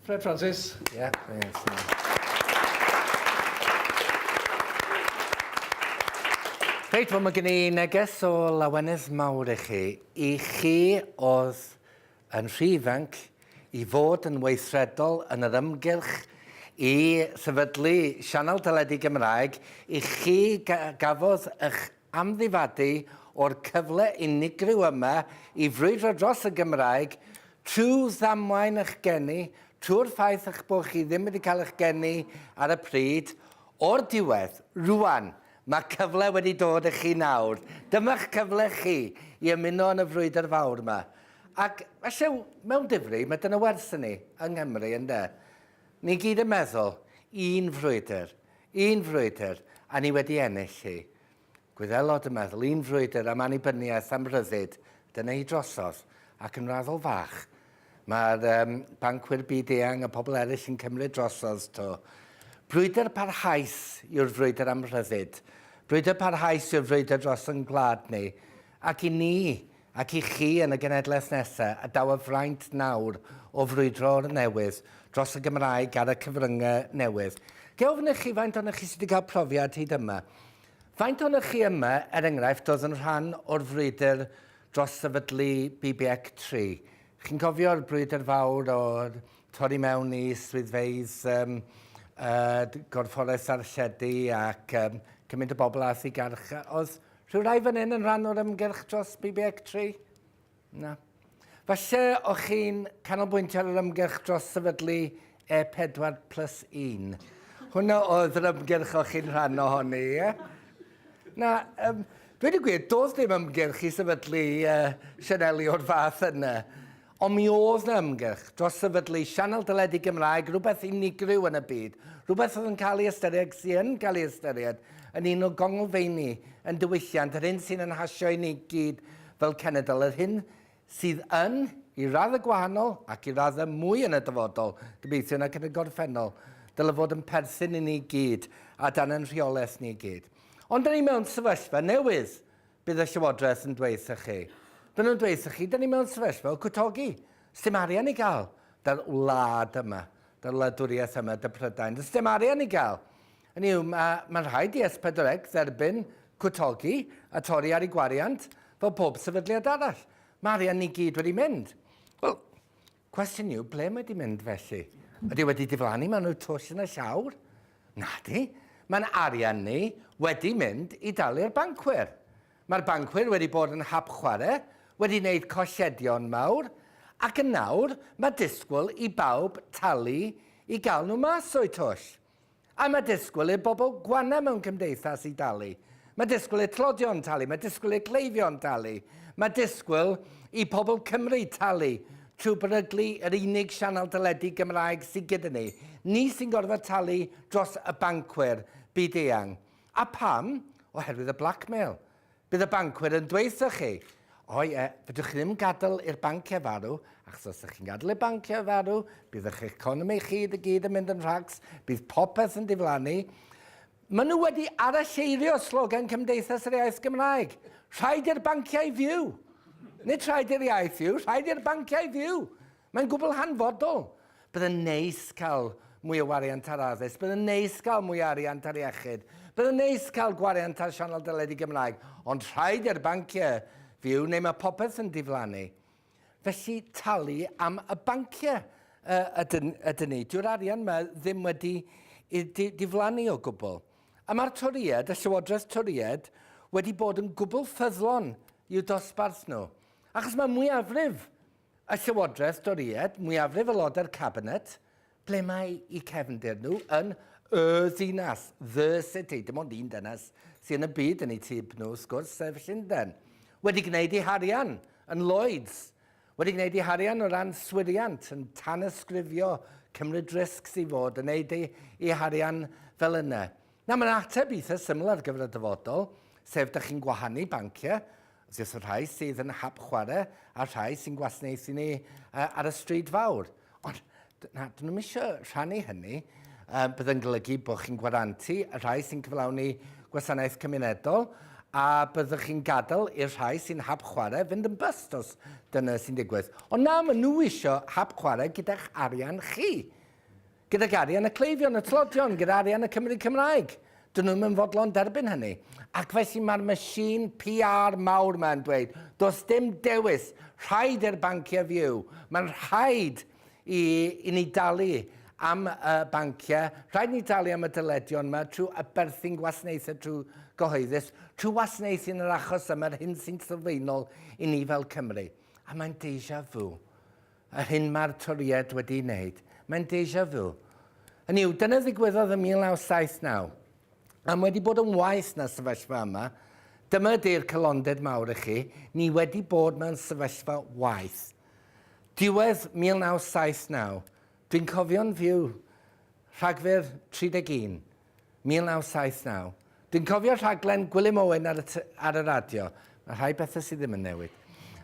Fred Francis. Yeah, Reit, wel mae gen i neges o lawenydd mawr i chi. I chi oedd yn rhy ifanc i fod yn weithredol yn yr ymgyrch i sefydlu sianel teledu Gymraeg, i chi gafodd eich amddifadu o'r cyfle unigryw yma i frwydro dros y Gymraeg trwy ddamwain eich geni, trwy'r ffaith eich bod chi ddim wedi cael eich geni ar y pryd, o'r diwedd, rŵan, mae cyfle wedi dod i chi nawr. Dyma'ch cyfle chi i ymuno yn y frwydr fawr yma. Ac felly, mewn difri, mae dyna werth i ni yng Nghymru, ynde? Ni gyd yn meddwl, un frwydr. Un frwydr, a ni wedi ennill hi. Gwyddelod y meddwl, un frwydr am annibyniaeth, am ryddid, dyna hi drosodd, ac yn raddol fach, mae'r um, bancwyr byd-eang a pobl eraill yn cymryd drosodd to. Brwydr parhaus yw'r frwydr am rhyddid. Brwydr parhaus yw'r frwydr dros yn gwlad ni. Ac i ni, Ac i chi yn y genedlaeth nesa, a daw y fraint nawr o frwydro o'r newydd dros y Gymraeg ar y cyfryngau newydd, ga i ofyn i chi faint ohonoch chi sydd wedi cael profiad hyd yma? Faint ohonoch chi yma, er enghraifft, oedd yn rhan o'r frwydr dros sefydlu BBEC tri? Chi'n cofio'r brwydr fawr o torri mewn i swyddfeydd um, uh, Gorfforaeth Archedu ac um, cymaint o bobl ath i garchaodd? Rhyw rai fan hyn yn rhan o'r ymgyrch dros BBEC 3? Na. Falle o'ch chi'n canolbwyntio ar yr ymgyrch dros sefydlu E4 plus 1. Hwna oedd yr ymgyrch o'ch chi'n rhan ohoni, ie? Na, um, dweud y gwir, doedd dim ymgyrch i sefydlu uh, Sianeli o'r fath yna. Ond mi oedd 'na ymgyrch dros sefydlu sianel deledu Gymraeg, rhywbeth unigryw yn y byd, rhywbeth oedd yn cael ei ystyried, ac sy' yn cael ei ystyried, yn un o gonglfeini ein diwylliant, yr hyn sy'n ein hasio i ni gyd fel cenedl, yr hyn sydd yn, i raddau gwahanol, ac i raddau mwy yn y dyfodol, gobeithiwn, ac yn y gorffennol, dyle fod yn perthyn i ni gyd, a dan ein rheolaeth ni gyd. Ond 'dan ni mewn sefyllfa newydd. Bydd y Llywodraeth yn dweud wrthych chi. Maen nhw'n dweud wrthych chi, da ni mewn sefyllfa o gwtogi. Sdim arian i gael. Da'r wlad yma, da'r wladwriaeth yma, da Prydain, does dim arian i gael. Hynny yw, mae, mae'n rhaid i S4C dderbyn cwtogi a torri ar ei gwariant fel pob sefydliad arall. Mae arian ni gyd wedi mynd. Wel, Cwestiwn yw, ble mae di mynd felly? Ydy wedi diflannu mewn y twll yn y llawr? Nadi. Mae'n arian ni wedi mynd i dalu'r bancwyr. Mae'r bancwyr wedi bod yn hap chwarae, wedi wneud colledion mawr, ac yn nawr mae disgwyl i bawb talu i gael nhw mas o'u twll. A mae disgwyl i'r bobl gwana mewn cymdeithas i dalu. Mae disgwyl i'r tlodion talu, mae disgwyl i'r cleifion talu. Mae disgwyl i pobl Cymru talu trwy beryglu yr unig sianel teledu Gymraeg sydd gyda ni. Ni sy'n gorfod talu dros y bancwyr byd-eang. A pam? Oherwydd y blackmail. Bydd y bancwyr yn dweud wrthoch chi, O ie, fedrwch chi ddim gadael i'r banciau farw, achos os ydych chi'n gadael i'r banciau farw, bydd eich economi chi i gyd yn mynd yn rhacs, bydd popeth yn diflannu. Maen nhw wedi aralleirio slogan Cymdeithas yr Iaith Gymraeg. Rhaid i'r banciau fyw! Nid rhaid i'r iaith fyw, rhaid i'r banciau fyw! Mae'n gwbl hanfodol. Bydd yn neis cael mwy o wariant ar addysg, bydd yn neis cael mwy o ariant ar iechyd, bydd yn neis cael gwariant ar sianel deledu Gymraeg, ond rhaid i'r banciau fyw neu mae popeth yn diflannu. Felly talu am y banciau ydyn, ydyn ni. Dyw'r arian yma ddim wedi i di, diflannu o gwbl. A mae'r Torïaid, y Llywodraeth Torïaid, wedi bod yn gwbl ffyddlon i'w dosbarth nhw. Achos mae mwyafrif Y Llywodraeth Dorïed, mwyafrif aelodau'r Cabinet, ble mae i cefndir nhw yn y ddinas, the city, dim ond un dynas sydd yn y byd yn eu tyb nhw, wrth gwrs, sef Llundain, wedi gwneud ei harian yn Lloyds, wedi gwneud ei harian o ran swiriant, yn tanysgrifio, cymryd risgs i fod, yn neud ei, ei harian fel yna. Na, mae'n ateb eitha syml ar gyfer y dyfodol, sef dych chi'n gwahanu banciau, wrth gwrs y rhai sydd yn hap chwarae a'r rhai sy'n gwasanaethu ni uh, ar y stryd fawr. Ond na, dyn nhw'n eisiau rhannu hynny. Uh, byddai'n golygu bod chi'n gwarantu y rhai sy'n cyflawni gwasanaeth cymunedol a byddwch chi'n gadael i'r rhai sy'n hap chwarae fynd yn byst os dyna sy'n digwydd. Ond na, maen nhw eisiau hap chwarae gyda'ch arian chi. Gydag arian y cleifion, y tlodion, gyda arian y Cymry Cymraeg. Dyn nhw ddim yn fodlon derbyn hynny. Ac felly mae'r machine PR mawr yma yn dweud, does dim dewis, rhaid i'r banciau fyw. Mae'n rhaid i, i ni dalu am y banciau, rhaid ni dalu am y dyledion yma trwy aberthu'n gwasanaethau trwy gyhoeddus, trwy wasanaethu yn yr achos yma, yr hyn sy'n sylfaenol i ni fel Cymru. A mae'n deja vu. Yr hyn mae'r Torïaid wedi ei wneud, mae'n deja vu. Hynny yw, dyna ddigwyddodd yn 1979. A mae wedi bod yn waeth na'r sefyllfa yma. Dyma ydy'r calonded mawr i chi, ni wedi bod mewn sefyllfa waeth. Diwedd 1979, dwi'n cofio'n fyw, Rhagfyr 31, 1979. Dwi'n cofio rhaglen Gwilym Owen ar y, ar y radio. Mae rhai bethau sydd ddim yn newid.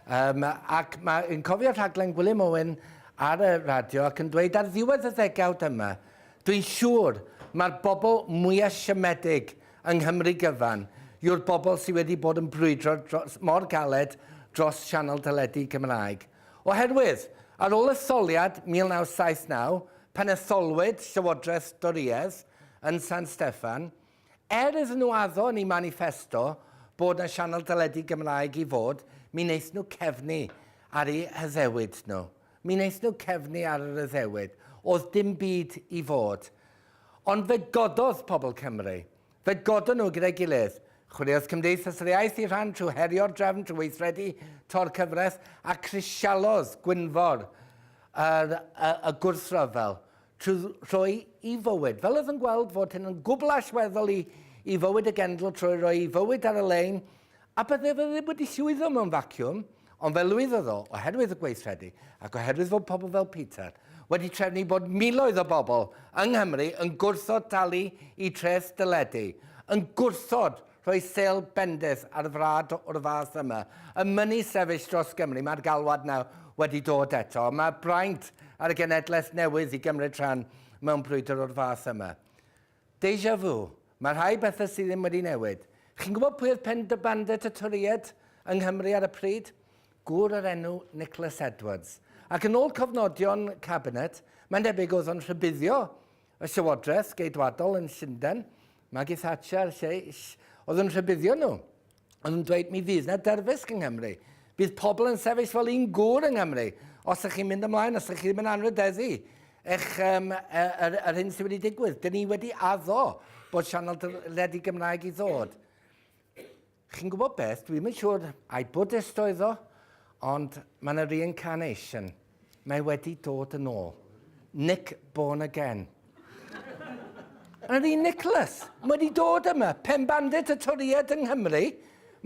Um, ac mae'n cofio rhaglen Gwilym Owen ar y radio ac yn dweud ar ddiwedd y ddegawd yma, dwi'n siŵr mae'r bobl mwyaf siomedig yng Nghymru gyfan yw'r bobl sydd wedi bod yn brwydro dros, mor galed dros sianel teledu Cymraeg. Oherwydd, ar ôl etholiad 1979, pan etholwyd Llywodraeth Dorïedd yn San Steffan, er iddyn nhw addo yn eu maniffesto bod 'na sianel deledu Gymraeg i fod, mi wnaethon nhw cefnu ar eu haddewid nhw. Mi wnaethon nhw cefnu ar yr addewid. Oedd dim byd i fod. Ond fe gododd pobl Cymru. Fe godon nhw gyda'i gilydd. Chwiliodd Cymdeithas yr Iaith i rhan trwy herio'r drefn trwy weithredu to'r cyfres a crisialodd Gwynfor yr, y, y gwrthryfel trwy roi i fywyd, fel oedd yn gweld fod hyn yn gwbl allweddol i, i fywyd y genedl trwy roi i fywyd ar y lein a byddai fe ddim wedi llwyddo mewn vacuum. Ond fe lwyddodd o, oherwydd y gweithredu, ac oherwydd fod pobl fel Peter wedi trefnu bod miloedd o bobl yng Nghymru yn gwrthod talu i treth deledu, yn gwrthod rhoi sêl bendith ar frad o'r fath yma, yn mynnu sefyll dros Gymru. Mae'r galwad 'na wedi dod eto. Mae braint ar y genedlaeth newydd i gymryd rhan mewn brwydr o'r fath yma. Deja vu. Mae rhai pethau sydd ddim wedi newid. Chi'n gwybod pwy oedd Penderbandet y Torïaid yng Nghymru ar y pryd? Gŵr o'r enw Nicholas Edwards. Ac yn ôl cofnodion Cabinet, mae'n debyg oedd o'n rhybuddio y Llywodraeth Geidwadol yn Llundain, Maggie Thatcher, lle, ll, oedd yn rhybuddio nhw. O'n nhw'n dweud, mi fydd na dyrfysg yng Nghymru. Bydd pobl yn sefyll fel un gŵr yng Nghymru. Os ydych chi'n mynd ymlaen, os ydych chi ddim yn anrhydeddu, eich, um, yr, yr hyn sydd wedi digwydd. Dyn ni wedi addo bod sianel dyledi Gymraeg i ddod. Chi'n gwybod beth, dwi'n mynd siŵr, ai Buddhist oedd o, ond mae yna reincarnation. Mae wedi dod yn ôl. Nick born again. Yn yr un Nicholas, mae wedi dod yma, pen bandit y Toriad yng Nghymru,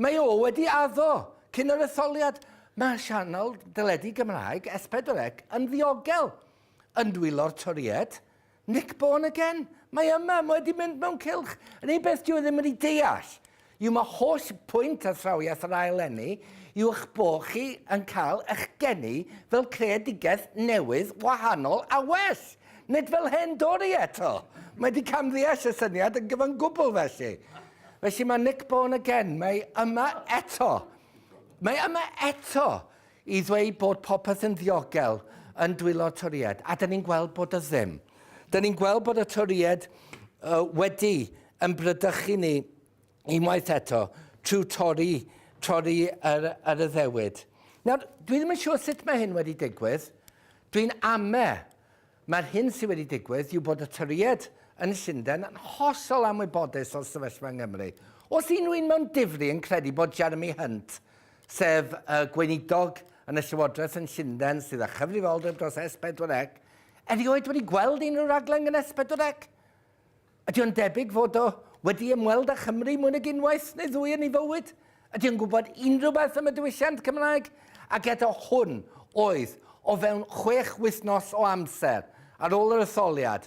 mae o wedi addo cyn yr etholiad. Mae sianel deledu Gymraeg S4C yn ddiogel yn dwylo'r Toriad. Nick born again? Mae yma, mae wedi mynd mewn cylch. Yn un beth dwi ddim wedi deall yw mae holl pwynt athrawiaeth yr ail eni yw eich bod chi yn cael eich geni fel creadigaeth newydd, wahanol a well. Nid fel hen Dori eto. Mae wedi camddeall y syniad yn gyfan gwbl felly. Felly mae Nick born again, mae yma eto. Mae yma eto. i ddweud bod popeth yn ddiogel yn dwylo'r Torïaid, a 'da ni'n gweld bod o ddim. 'Da ni'n gweld bod y Torïaid uh, wedi yn brydychu ni unwaith eto trwy torri, torri ar, ar y ddewyd. Nawr, dwi ddim yn siŵr sut mae hyn wedi digwydd. Dwi'n ame Mae'r hyn sydd wedi digwydd yw bod y Torïaid yn Llundain yn hollol anwybodus o'r sefyllfa yng Nghymru. Oes unrhyw un mewn difri yn credu bod Jeremy Hunt, sef y Gweinidog yn y Llywodraeth yn Llundain sydd â chyfrifoldeb dros S4C, erioed wedi gweld unrhyw raglen gan S4C? Ydy o'n debyg fod o wedi ymweld â Chymru mwy nag unwaith neu ddwy yn ei fywyd? Ydy o'n gwybod unrhyw beth am y diwylliant Cymraeg? Ac eto hwn oedd o fewn chwech wythnos o amser ar ôl yr etholiad,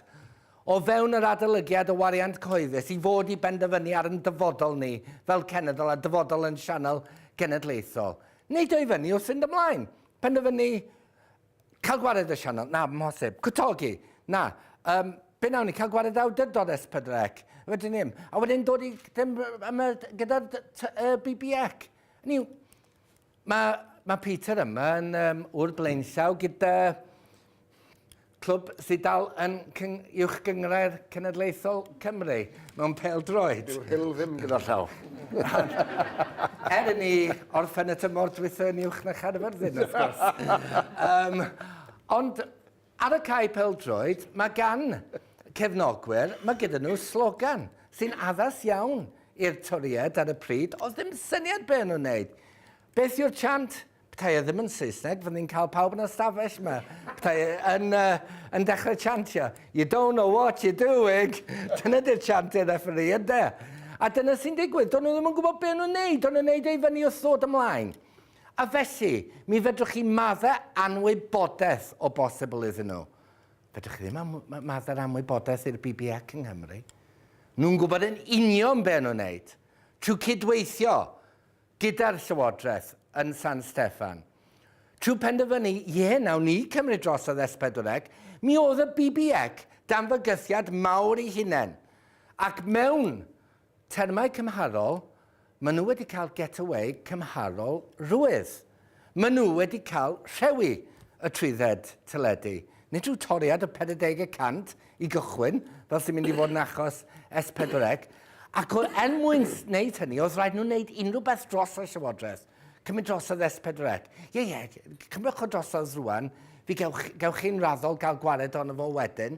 o fewn yr adolygiad o wariant cyhoeddus i fod i benderfynu ar yn dyfodol ni fel cenedl a dyfodol yn sianel genedlaethol. Neidio i fyny wrth fynd ymlaen. Penderfynu Cael gwared y sianel? Na, amhosib. Cwtogi? Na. Um, be nawn ni? Cael gwared awdurdod S4C? Wedyn ni'n. A wedyn dod i ddim yma gyda'r uh, BBEC. Ni, mae, mae Peter yma yn um, o'r blaenllaw gyda clwb sydd dal yn cyng, uwch gyngrair cenedlaethol Cymru. Mewn pêl-droed. Dyw Hull ddim gyda llaw. Er i ni orffen y tymor dwytha yn uwch na Chaerfyrddin, wrth gwrs. Ond ar y cae pêl-droed, mae gan cefnogwyr, mae gyda nhw slogan sy'n addas iawn i'r Torïaid ar y pryd. Oedd ddim syniad be o'n nhw'n wneud. Beth yw'r chant? Petai e ddim yn Saesneg, fydden ni'n cael pawb yn y stafell yma. Petai e yn, uh, yn dechrau chantio. You don't know what you're doing. dyna di'r chant i'r referee, yde? A dyna sy'n digwydd. Do'n nhw ddim yn gwybod beth nhw'n neud. Do'n nhw'n neud ei fyny wrth ddod ymlaen. A felly, mi fedrwch chi maddau anwybodaeth o bosibl iddyn nhw. Fedrwch chi ddim am, maddau'r anwybodaeth i'r BBEC yng Nghymru. Nhw'n gwybod yn union beth nhw'n neud. Trwy cydweithio gyda'r Llywodraeth yn San Steffan, trwy penderfynu, ie, nawn ni cymryd drosodd Es Pedwrec, mi oedd y BBEC dan fygythiad mawr ei hunain, ac mewn termau cymharol, maen nhw wedi cael get-away cymharol rwydd. Maen nhw wedi cael rhewi y trwydded teledu. Nid rhyw toriad o 40 y cant i gychwyn, fel sy'n mynd i fod yn achos S4C, ac o, er mwyn wneud hynny, oedd rhaid nhw wneud unrhyw beth dros y Llywodraeth. Cymryd drosodd S4C. Ie, ie, cymrwch o drosodd rwan, fi gewch, gewch chi'n raddol gael gwared ohono fo wedyn.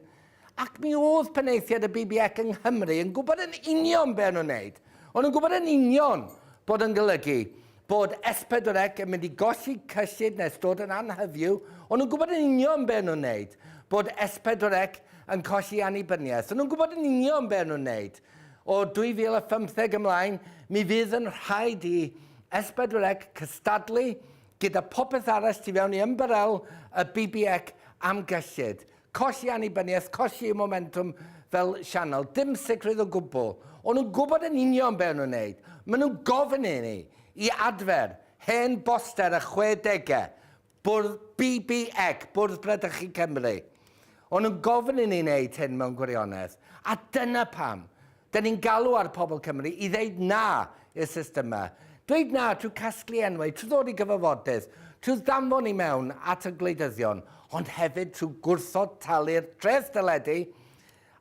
Ac mi oedd penaethiaid y BBEC yng Nghymru yn gwybod yn union be o'n nhw'n wneud. O'n nhw'n gwybod yn union bod yn golygu bod S4C yn mynd i golli cyllid nes dod yn anhyfyw. O'n nhw'n gwybod yn union be o'n nhw'n wneud, bod S4C yn colli annibyniaeth. O'n nhw'n gwybod yn union be o'n nhw'n wneud. O 2015 ymlaen, mi fydd yn rhaid i S4C cystadlu gyda popeth arall tu fewn i ymbarel y BBEC am gyllid. Colli annibyniaeth, colli y momentwm fel sianel, dim sicrwydd o gwbl. O'n nhw'n gwybod yn union be o'n nhw'n neud. Maen nhw'n gofyn i ni i adfer hen boster y chwedegau, bwrdd BBEC, Bwrdd Bradychu Cymru. O'n nhw'n gofyn i ni neud hyn mewn gwirionedd. A dyna pam Dyn ni'n galw ar pobl Cymru i ddeud 'na' i'r system 'ma. Dweud 'na' trwy casglu enwau, trwy ddod i gyfarfodydd, trwy ddanfon i mewn at y gwleidyddion, ond hefyd trwy gwrthod talu'r treth deledu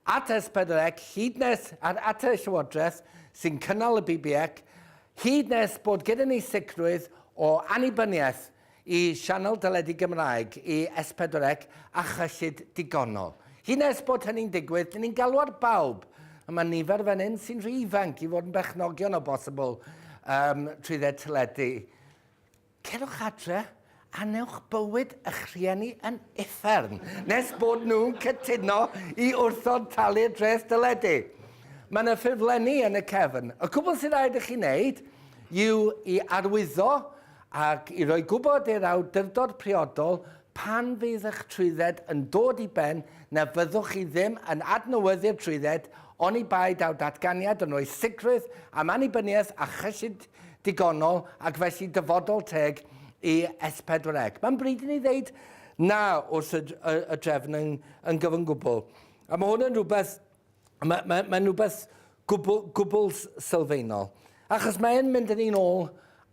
at S4C hyd nes, a at y Llywodraeth sy'n cynnal y BBEC, hyd nes bod gyda ni sicrwydd o annibyniaeth Y sianel deledu Gymraeg, y S4C a chyllid digonol. Hyd nes bod hynny'n digwydd, dyn ni'n galw ar bawb, a mae nifer fan hyn sy'n rhy ifanc i fod yn berchnogion o bosibl um, trwydded teledu. Cerwch adre, anewch bywyd eich rhieni yn uffern, nes bod nhw'n cytuno i wrthod talu'r dreth deledu. Mae yna ffurflenni yn y cefn. Y cwbl sy'n rhaid i chi wneud yw i arwyddo ac i roi gwybod i'r awdurdod priodol pan fydd eich trwydded yn dod i ben na fyddwch chi ddim yn adnewyddu'r trwydded oni bai daw datganiad yn rhoi sicrwydd am annibyniaeth a chyllid digonol ac felly dyfodol teg i S4C. Mae'n bryd i ni ddeud na wrth y, y, y drefn yn, yn gyfan gwbl. A mae hwn yn rhywbeth Mae'n ma, ma rhywbeth gwbl, gwbl sylfaenol. Achos mae'n mynd yn un ôl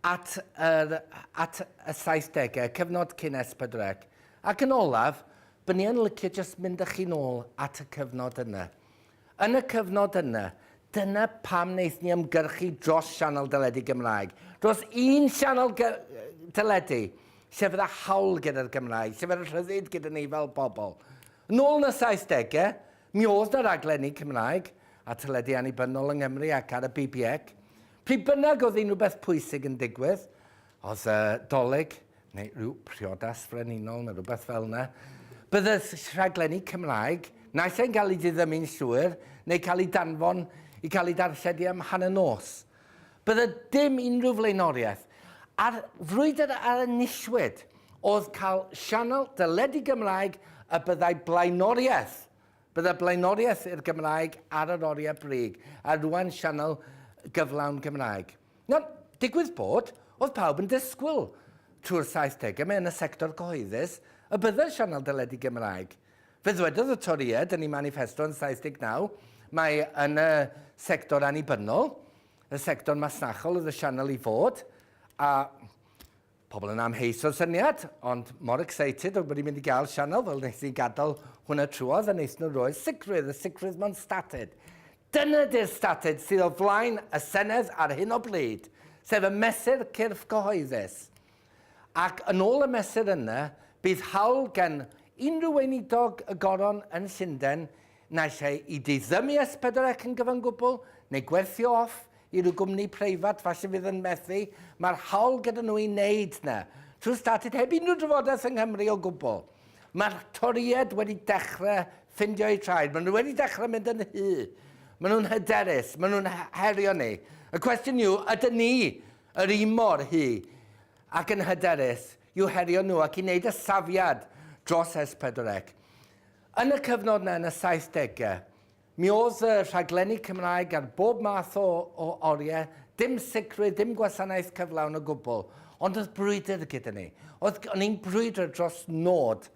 at, er, at y 70au, cyfnod cyn S4C. Ac yn olaf, byddwn ni yn licio jyst mynd â chi'n ôl at y cyfnod yna. Yn y cyfnod yna, dyna pam wnaeth ni ymgyrchu dros sianel deledu Gymraeg. Dros un sianel deledu, sef y hawl gyda'r Gymraeg, sef y rhyddid gyda ni fel pobl. Nôl yn y 70au, Mi oedd 'na raglenni Cymraeg ar teledu annibynnol yng Nghymru ac ar y BBEC. Pryd bynnag oedd unrhyw beth pwysig yn digwydd, oedd y Dolig neu rhyw priodas frenhinol neu rhywbeth fel yna, bydde rhaglenni Cymraeg, naill ai'n cael eu diddymu'n llwyr neu cael eu danfon i cael eu darlledu am hanner nos. Bydde dim unrhyw flaenoriaeth. A'r frwydr a enillwyd oedd cael sianel deledu Gymraeg y byddai blaenoriaeth. Bydde blaenoriaeth i'r Gymraeg ar yr oriau brig, a rŵan sianel gyflawn Gymraeg. Nawr, digwydd bod, oedd pawb yn disgwyl, trwy'r saithdegau, mewn y sector cyhoeddus, y bydde'r sianel deledu Gymraeg Fe ddwedodd y Torïaid yn eu maniffesto yn 79 mai yn y sector annibynnol, y sector masnachol oedd y sianel i fod, a pobl yn amheus o'r syniad, ond mor excited oedd bod ni'n mynd i gael sianel fel nes i gadael hwnna trwodd a nes nhw roi'r sicrwydd, y sicrwydd mewn statud. Dyna ydy'r statud sydd o flaen y Senedd ar hyn o bryd, sef y mesur cyrff cyhoeddus. Ac yn ôl y mesur yna, bydd hawl gan unrhyw weinidog y Goron yn Llundain naill ai i diddymu S4C yn gyfan gwbl neu gwerthu off i ryw gwmni preifat falle fydd yn methu, mae'r hawl gyda nhw i wneud 'na, trwy statud heb unrhyw drafodaeth yng Nghymru o gwbl. Mae'r Torïaid wedi dechrau ffindio eu traed, maen nhw wedi dechrau mynd yn hy, maen nhw'n hyderus, maen nhw'n herio ni. Y cwestiwn yw, ydyn ni Yr un mor hŷ ac yn hyderus yw herion nhw ac i wneud y safiad dros S4C. Yn y cyfnod yna yn y saithdegau, mi oedd y rhaglenni Cymraeg ar bob math o o oriau, dim sicrwydd, dim gwasanaeth cyflawn o gwbl, ond oedd brwydr gyda ni. Oedd, o'n i'n brwydro dros nod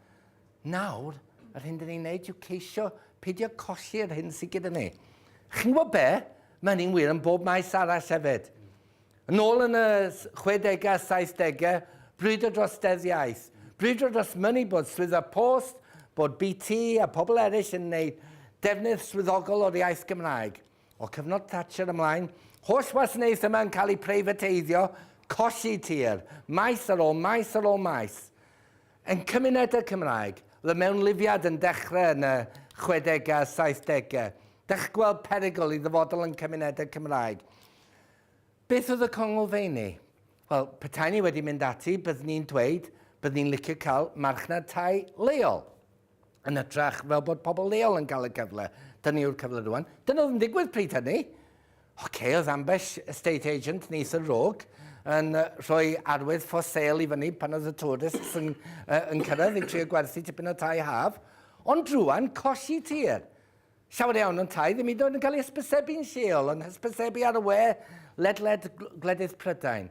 Nawr, yr hyn dyn ni'n neud yw ceisio peidio colli yr hyn sydd gyda ni. Chi'n gwybod be? Mae hynny'n wir yn bob maes arall hefyd. Yn ôl yn y 60au a 70au, brwydro dros Deddf Iaith, brwydro dros mynnu bod Swyddfa Post, bod BT a pobl eraill yn gwneud defnydd swyddogol o'r iaith Gymraeg. O cyfnod Thatcher ymlaen, holl wasanaeth yma yn cael ei preifateiddio, colli tir, maes ar ôl maes ar ôl maes. Yn cymunedau Cymraeg, le mewnlifiad yn dechrau yn y chwedegau a saithdegau, dach gweld perygl i ddyfodol yn cymunedau Cymraeg. Beth oedd y conglfeini? Wel, petai ni wedi mynd ati, byddwn ni'n dweud, byddwn ni'n licio cael marchnad tai leol. yn ytrach fel bod pobl leol yn cael y cyfle. Dyna yw'r cyfle rwan. Dyna oedd yn digwydd pryd hynny. Oce, oedd ambell estate agent yn eitha rog yn rhoi arwydd for sale i fyny pan oedd y tourists yn, uh, yn cyrraedd i trio gwerthu tipyn o tai haf. Ond rwan, colli tir. Llawer iawn yntau ddim hyd yn oed yn cael ei hysbysebu'n lleol, yn hysbysebu ar y we ledled gwledydd Prydain.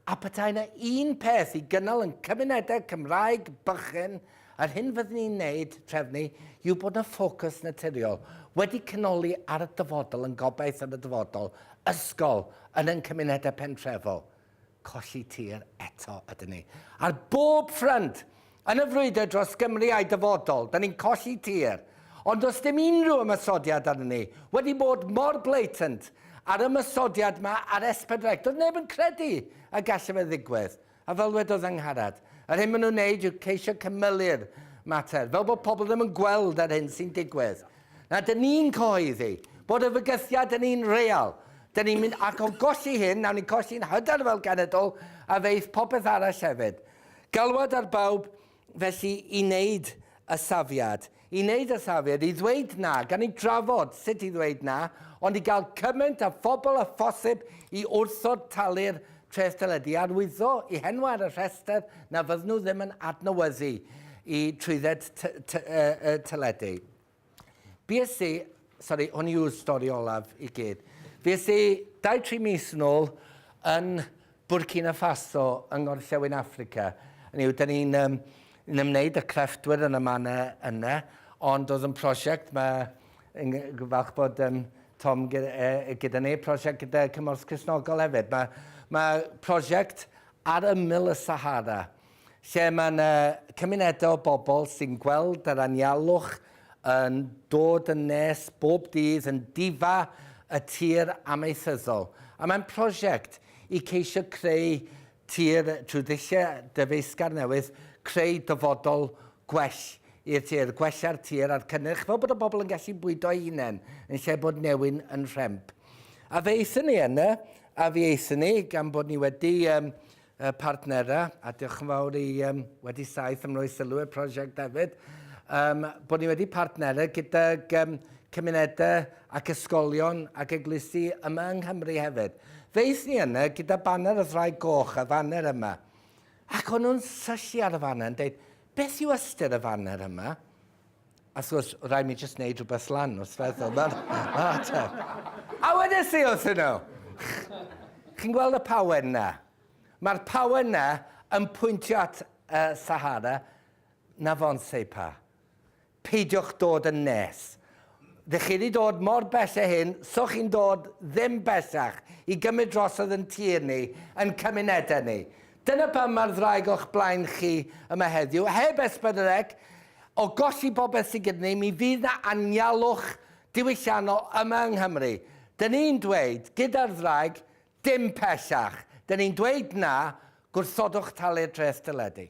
A petai yna un peth i gynnal yn cymunedau Cymraeg bychan, yr hyn fydden ni'n wneud, trefnu, yw bod yna ffocws naturiol, wedi cynoli ar y dyfodol yn gobaith am y dyfodol, ysgol, yn ein cymunedau pentrefol. Colli tir eto ydyn ni. Ar bob ffrynt! Yn y frwydr dros Gymru a'i dyfodol, da ni'n colli tir. Ond does dim unrhyw ymosodiad arnon ni. Wedi bod mor blatant â'r ymosodiad ma ar Esbydrec, doedd neb yn credu y gallai fe ddigwydd. A fel wedodd Angharad, yr hyn maen nhw'n wneud yw ceisio cymylu'r mater, fel bod pobl ddim yn gweld yr hyn sy'n digwydd. Na, dyn ni'n cyhoeddi bod y fygythiad yn un real. Dyn ni'n mynd ac o golli hyn, nawn ni colli'n hyder fel cenedl, a ddeith popeth arall hefyd. Galwad ar bawb felly i wneud y safiad, i wneud y safiad, i ddweud na, gan ni drafod sut i ddweud na, ond i gael cymaint â phobl â phosib i wrthod talu'r treth deledu, arwyddo i henwau ar y rhestr na fydden nhw ddim yn adnewyddu i trwydded teledu. Fues i, sori, hwn yw'r stori olaf i gyd. Fues i dau tri mis yn ôl yn Burkina Faso yng ngorllewin Affrica. Hynny yw, da ni'n um, ymwneud â crefftwyr yn y manna yna, ond oedd yn prosiect, mae yn falch bod um, Tom gyda, e, gyda ni, prosiect gyda Cymorth Cresnogol hefyd. Mae, mae prosiect ar ymyl y Sahara. lle mae yna cymunedau o bobl sy'n gweld yr anialwch yn dod yn nes bob dydd yn difa y tir amaethyddol. A mae'n prosiect i ceisio creu tir trwy ddulliau dyfeisgar newydd, creu dyfodol gwell i'r tir, gwella'r tir a'r cynnyrch fel bod y bobl yn gallu bwydo'i hunain yn lle bod newyn yn rhemp. A fe aethon ni yna, a fe aethon ni gan bod ni wedi um, y partnerau, a diolch yn fawr i um, wedi saith am roi sylw i'r prosiect hefyd, um, bod ni wedi partnerau gydag um, cymunedau ac ysgolion ac eglwysi yma yng Nghymru hefyd. Ddeith ni yna gyda baner y ddrai goch, y faner yma. Ac o'n nhw'n syllu ar y faner yn dweud, beth yw ystyr y faner yma? Wrth gwrs, rhaid mi jyst wneud rhywbeth lan wrth feddwl. Mae'r ma ateb. A wedys i wrth nhw, chi'n gweld y pawen na? Mae'r pawen na yn pwyntio at uh, Sahara, na fo'n seipa. Peidiwch dod yn nes. Ddech chi wedi dod mor bell a hyn, so chi'n dod ddim bellach i gymryd drosodd yn tir ni, yn cymunedau ni. Dyna pam mae'r ddraig o'ch blaen chi yma heddiw. Heb esbyrnreg o golli popeth sydd gyda ni, mi fydd 'na anialwch diwylliannol yma yng Nghymru. Dyn ni'n dweud, gyda'r ddraig, dim pellach. Dyn ni'n dweud na, gwrthodwch talu'r dreth deledu.